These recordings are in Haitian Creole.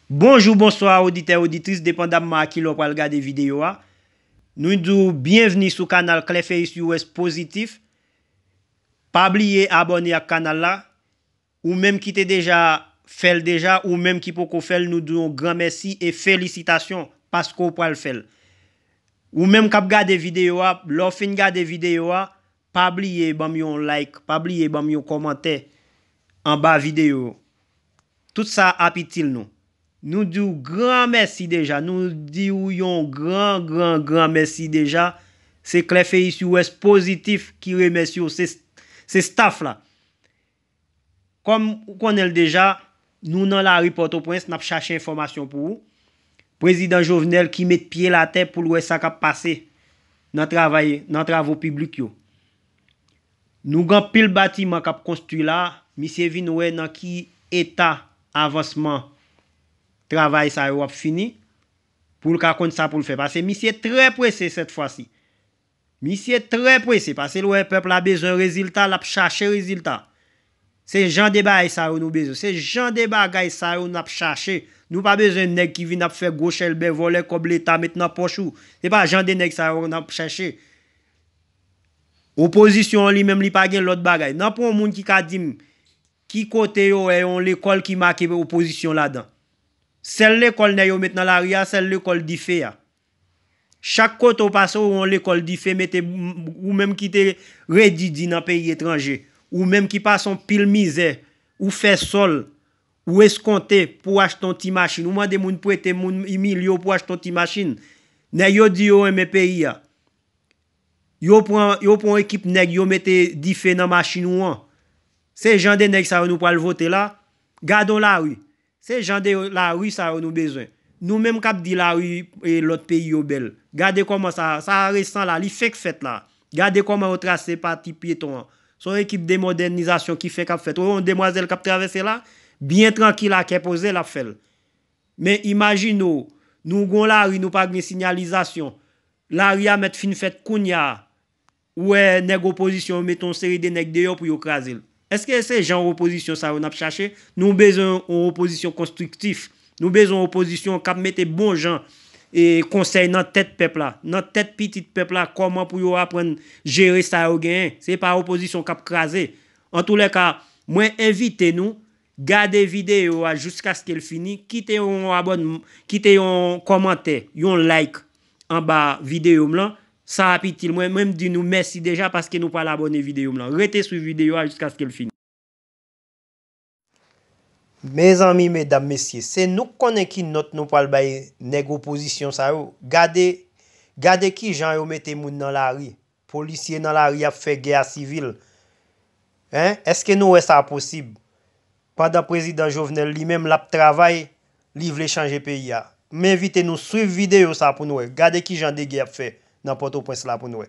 Bonjou, bonswa oditè, oditris depandamman a kilè w pral gade videyo a. Nou di w byenvni sou kanal Clefeus US Positif. Pa bliye abòne ak kanal la. Ou menm ki te deja fè l deja, ou menm ki poko fè l nou di w yon gran mèsi e felisitasyon paske w pral fè l. Ou menm k ap gade videyo a, lè w fin gade videyo a, pa bliye banm yon like pa bliye banm yon kòmantè anba video tout sa ap itil nou nou diw gran mèsi deja nou diw yon gran gran gran mèsi deja se clefeisures positif ki remèsye w se staff la. Kòm ou konnen l deja, nou nan lari Pòtoprens n ap chache enfòmasyon pou ou. Prezidan Jovenel ki met pye l atè pou l wè sa k ap pase nan travay nan travo piblik yo. Nou gen anpil batiman k ap konstwi la, misye vin wè nan ki eta avansman travay sa yo ap fini pou l ka konn sa pou l fè. Pase misye trè prese sètfwasi. Misye trè pwese pasel wè pèp la bezwen rezilta lap chache rezilta se jan de baay sa yo nou bezwen se jan de bagay sa yo nap chache nou pa bezwen nèg ki vin ap fè gwo chèlbè vòlè kòb leta met nan pòch ou se pa jan de nèg sa yo nap chache opozisyon an li menm li pa gen lòt bagay nan pwen yon moun ki ka dim ki kote yo wè yon lekòl ki make opozisyon ladan sèl lekòl nèg yo met nan lari a sèl lekòl dife a Chak kote w pase ou wè yon lekòl dife mete ou menm ki te redi di nan peyi etranje, ou menm ki pase yon pil mizè, ou fè sòl, ou eskonte pou w achte yon ti machin, ou mande moun prete moun imilye w pou w achte yon ti machin. Nèg yo di yo renmen peyi a, yo pran yon ekip nèg yo mete dife nan machin ou an. Se jan de nèg sa yo nou pral vote la? Gade yon lari, Se jan de lari sa yo nou bezwen. Nou menm kap di lari lòt peyi yo bèl. Gade kòman sa a, sa a resan la, li fenk fèt la a. Gade kòman yo trase pati pyeton an. Se yon ekip de modènizasyon ki fenk ap fèt. Ou wè yon demwazèl kap travèse la a? Byen trankil a kè poze lap fè l. Men imajine w, nou gen yon lari nou pa gen sinyalizasyon. Lari a mèt fin fèt kounya a. Ou wè nèg opozisyon yo mete yon seri de nèg deyò pou yo kraze l. Eske se jan opozisyon sa yo n ap chache? Nou bezwen yon opozisyon konstriktif. Nou bezwen yon opozisyon k ap mete bon jan konsèy nan tèt pèp la, nan tèt pitit pèp la kòman pou yo aprann jere sa yo genyen. Se pa opozisyon k ap kraze. Antoulèka, mwen envite nou, Gade videyo a jiskaske l fini, kite yon abòn, kite yon kòmantè, yon like anba videyo m lan, sa ap itil mwen, mwen m di nou mèsi deja paske nou pral abòne videyo m lan. Rete swiv videyo a jiskaske l fini. Mezanmi medam mesye se nou k konnen ki nòt nou pral bay nèg opozisyon sa yo gade gade kijan yo mete moun nan lari. Polisye nan lari ap fè gè a sivil hein eske nou wè sa posib pandan prezidan Jovenel li menm lap travay li vle chanje peyi a m envite nou swiv video sa pou n wè gade kijan degè yap fè nan pòtoprens la pou n wè.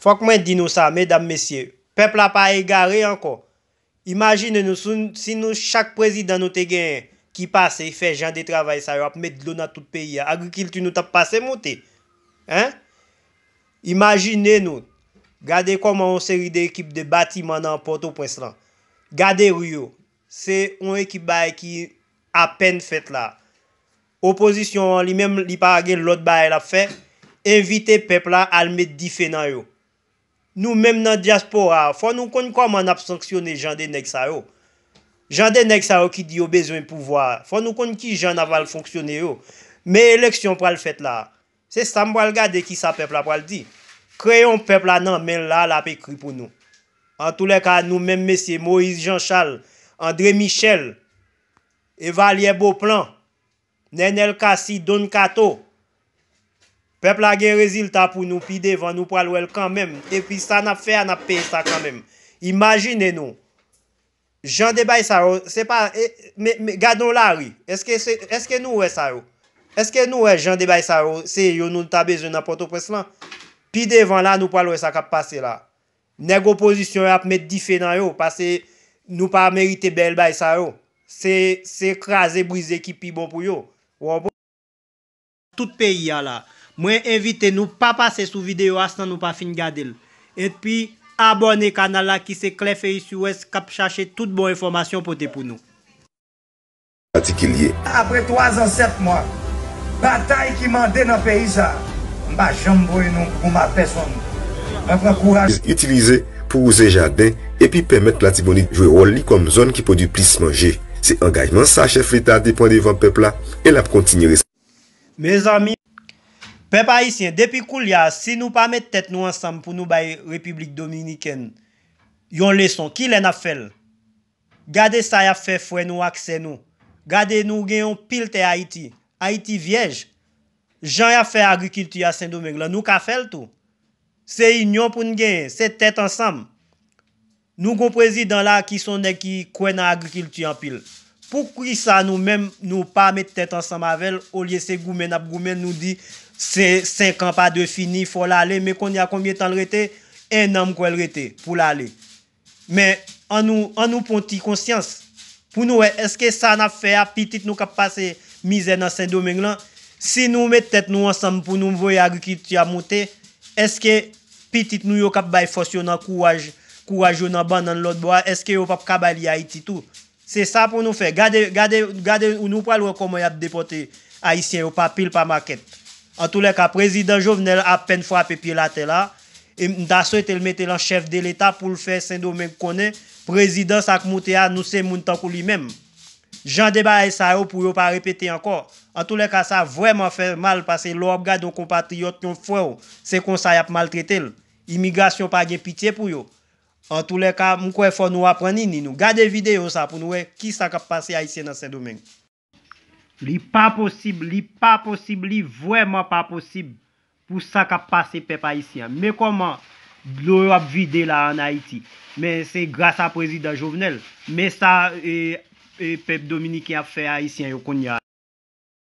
Fòk mwen di nou sa, medam mesye, pèp la pa egare ankò. Imajine nou si nou chak prezidan nou te genyen ki pase fè jan de travay sa yo ap met dlo nan tout peyi a agrikilti nou tap pase moute hein imajine nou gade kòman yon seri de ekip de batiman nan pòtoprens lan gade ri yo se yon ekip bagay ki apèn fèt la opozisyon an li menm li pa gen lòt bagay lap fè envite pèp la al met dife nan yo Nou menm nan diaspora a fò nou konn kòman nap sanksyone jan de nèg sa yo. Jan de nèg sa yo ki di yo bezwen pouvwa a, fò nou konn kijan nap al fonksyone yo. Men eleksyon pral fèt la a. Se sam pral gade kisa pèp la pral di. Kreyon pèp la nan menl la a lap ekri pou nou. Antoulèka nou menm mesye Moïse Jean Charles, André Michel, Evalière Beauplan, Nenel Cassy Don Kato. Pèp la gen rezilta pou nou pi devan nou pral wèl kanmenm epi sa nap fè a nap peye sa kanmenm imajine nou Jan de bay sa yo se pa gade yon lari eske nou wè sa yo eske nou wè Jan de bay sa yo se yo nou ta bezwen nan pòtoprens lan pi devan la nou pral wè sa kap pase la Nèg opozisyon yo ap met dife nan yo pase nou pa merite bèl bay sa yo. Se se kraze brize ki pi bon pou yo. Ou anpr. Tout peyi a la. Mwen envite nou pa pase sou video a san nou pa fin gade l. Enpi abòne kanal la ki se Clefeuille sur Ouest kap chache tout bon enfòmasyon pote pou nou. patikilye. Apre 3 zan 7 mwa batay ki mande nan peyi sa a, m pa janm voye non gwo ma pèsonn. Mwen pran kouraj. Itilize pou wouze jaden epi pèmèt Latibonit jwe wòl li kòm zòn ki pwodui plis manje. Se angajman sa chèf leta te pran devan pèp la e l ap kontinye. Mezanmi, pèp ayisyen, depi koulye a, si nou pa met tèt nou ansanm pou nou bay Repiblik Dominikèn yon leson, kilè n ap fè l? Gade sa yap fè frè nou ak sè nou gade nou gen yon pil tè ayiti ayiti vyèj jan yap fè agrikilti a sendomeng lan nou ka fèl tou se inyon poun genyen se tèt ansanm nou gon prezidan la ki son nèg ki kwè nan agrikilti anpil poukisa nou menm nou pa met tèt ansanm avèl olye se goumen nap goumen nou di se 5 an pa dwe fini fòl ale men konnya konbyen tanl rete 1 an mkwèl rete poul ale Men, annou, annou pwan ti konsyans, pou nou wè èske sa n'ap fè a, pitit nou k'ap pase mizè nan Sendomeng lan, si nou met tèt nou ansanm pou nou voye agrikilti a moute, èske pitit nou yo k'ap bay fòs yo nan kouraj, kouraj yo nan bannann lòt bò a, èske yo p'ap ka bay li Ayiti tou? Se sa pou nou fè. Gade, gade, gade nou pral wè kòman yap depòte Ayisyen yo pa pil pa makèt. Antoulèka Prezidan Jovenel apèn frape pyel atè la, e m ta swete l mete l an chèf de leta pou l fè Sendomeng konnen Prezidan sa k moute a nou se moun tankou li menm. Jan de bagay sa yo pou yo pa repete ankò. Antoulèka sa vrèman fè mal pase lè w ap gade yon konpatriyòt, yon frè w se konsa yap maltrete l. Imigrasyon pa gen pitye pou yo. Antoulèka, m kwè fò nou aprann ini nou. Gade videyo sa pou nou wè ki sa k ap pase Ayisyen nan Sendomeng. Li pa posib, li pa posib, li vrèman pa posib pou sa k ap pase pèp Ayisyen an. Men kòman dlo yo ap vide la a an Ayiti. Men se gras a Prezidan Jovenel. Men sa pèp Dominiken ap fè Ayisyen yo kounya.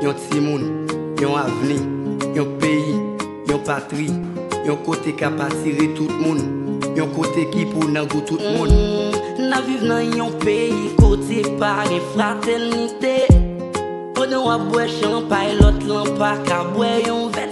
Yon timoun, yon avni, yon peyi, yon patri, yon kote kap atire tout moun, yon kote ki pou nan gou tout moun. N ap viv nan yon peyi kote pa gen fratènite, pandan w ap bwè chanpay lòt lan pa ka bwè yon vè.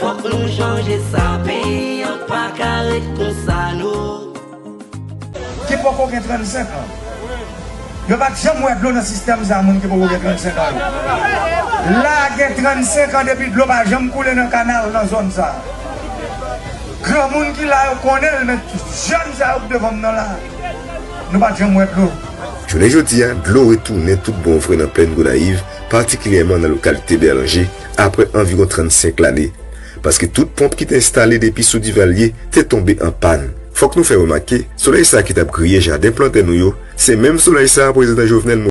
Fok nou chanje sa peyi an paka ret konsa no. Ki poko gen 35 ans yo pat janm wè dlo nan sistèm sa moun ki poko gen 35 ans yo la gen 35 ans depi dlo pa janm koule nan kanal nan zòn sa granmoun ki la yo konnenl men jèn sa yo ki devanm nan la nou pat janm wè dlo. Jounen jodi a, dlo retounen tout bon vre nan Plèn Gonayiv, patikilyèman nan lokalite Bèlanje, apre anviwon 35 lane, paske tout ponp ki te enstale depi sou Duvalier te tonbe an pàn. Fòk nou fè remake, solèy sa ki t ap griye jaden plantè nou yo, se menm solèy sa Prezidan Jovenel.